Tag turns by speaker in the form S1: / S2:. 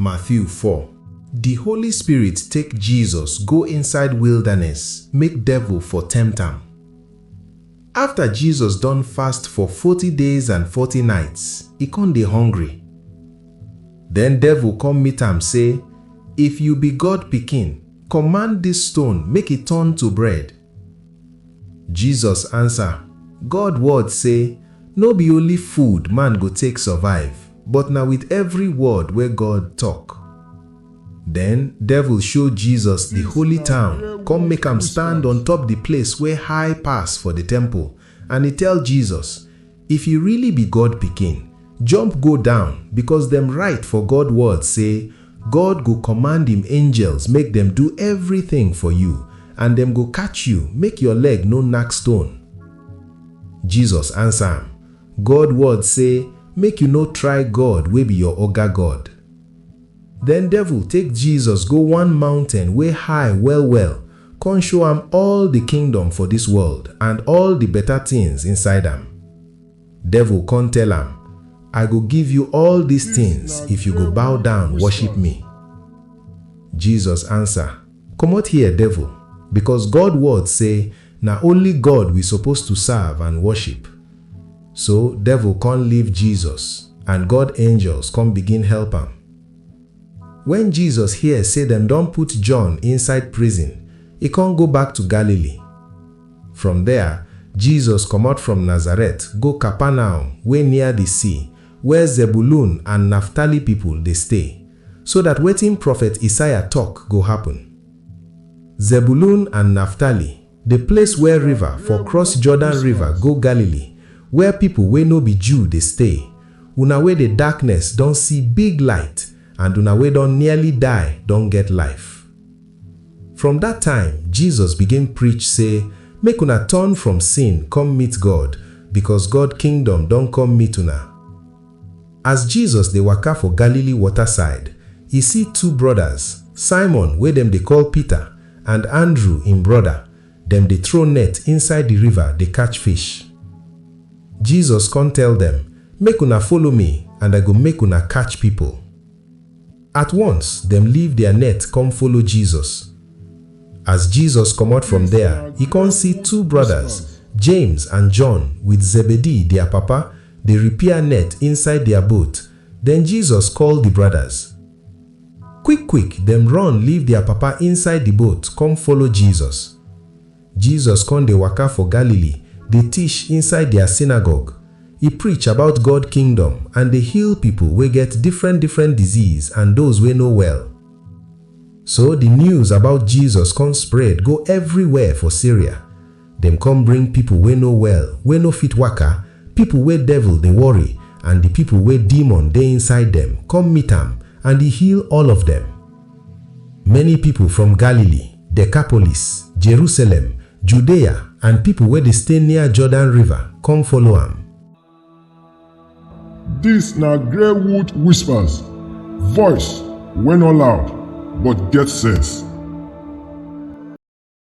S1: Matthew 4. Di Holy Spirit take Jesus go inside wilderness make devil for tempt am. After Jesus don fast for forty days and forty nights, e con dey hungry. Den devil come meet am say, If you be God pikin, command dis stone make e turn to bread. Jesus ansa, God word sey, No be only food man go take survive, but na with every word wey God tok. Den Devil show Jesus di holy town, kon make am stand on top di place wey high pass for di temple, And e tell Jesus, If you really be God pikin, jump go down, because dem write for God word sey, God go command im angels make dem do everything for you, and dem go catch you make your leg no knack stone. Jesus answer am, God word sey, Make you no try God wey be your Oga God. Den Devil take Jesus go one mountain wey high well-well kon show am all di kingdom for dis world and all di beta tins inside am. Devil kon tell am, I go give you all dis tins if you go bow down worship me. Jesus ansa. Comot here devil, because God word say na only God we suppose to serve and worship. So devil con leave Jesus and God angels con begin help am. When Jesus hear say dem don put John inside prison, e con go back to Galilee. From there, Jesus comot from Nazareth go Capernaum wey near the sea where Zebulun and Naphtali people dey stay, so that wetin prophet Isaiah talk go happen. Zebulun and Naphtali, the place where river for cross Jordan river go Galilee, where people wey no be Jew dey stay, una wey dey darkness don see big light, and una wey don nearly die don get life. From dat time, Jesus begin preach sey, Make una turn from sin come meet God, becos God Kingdom don come meet una. As Jesus dey waka for Galilee water side, e see two brodas, Simon wey dem dey call Peter and Andrew im broda, dem dey throw net inside di river dey catch fish. Jesus con tell dem, Make una follow me and I go make una catch pipo. At once dem leave dia net kom follow Jesus. As Jesus komot from der, e kon si two brodas, James and John with Zebedee, dia papa, dey repair net inside dia boat. Den Jesus koll di brodas. Kwik-kwik dem run leave dia papa inside di boat kom follow Jesus. Jesus kon dey waka for Galilee, dey tish inside dia synagogue. E preach about God Kingdom and dey heal pipol wey get difren difren disease and doz wey no well. So di news about Jesus kon spread go everi where for Syria. Dem kon bring pipol wey no well, wey no fit waka, pipol wey devil dey worry and di pipol wey demon dey inside dem kom meet am and e heal all of dem. Many pipo from Galilee, Decapolis, Jerusalem, Judea, and pipo wey dey stay near Jordan River come follow am. Dis na Grey Wood Whispers, voice wey no loud but get sense.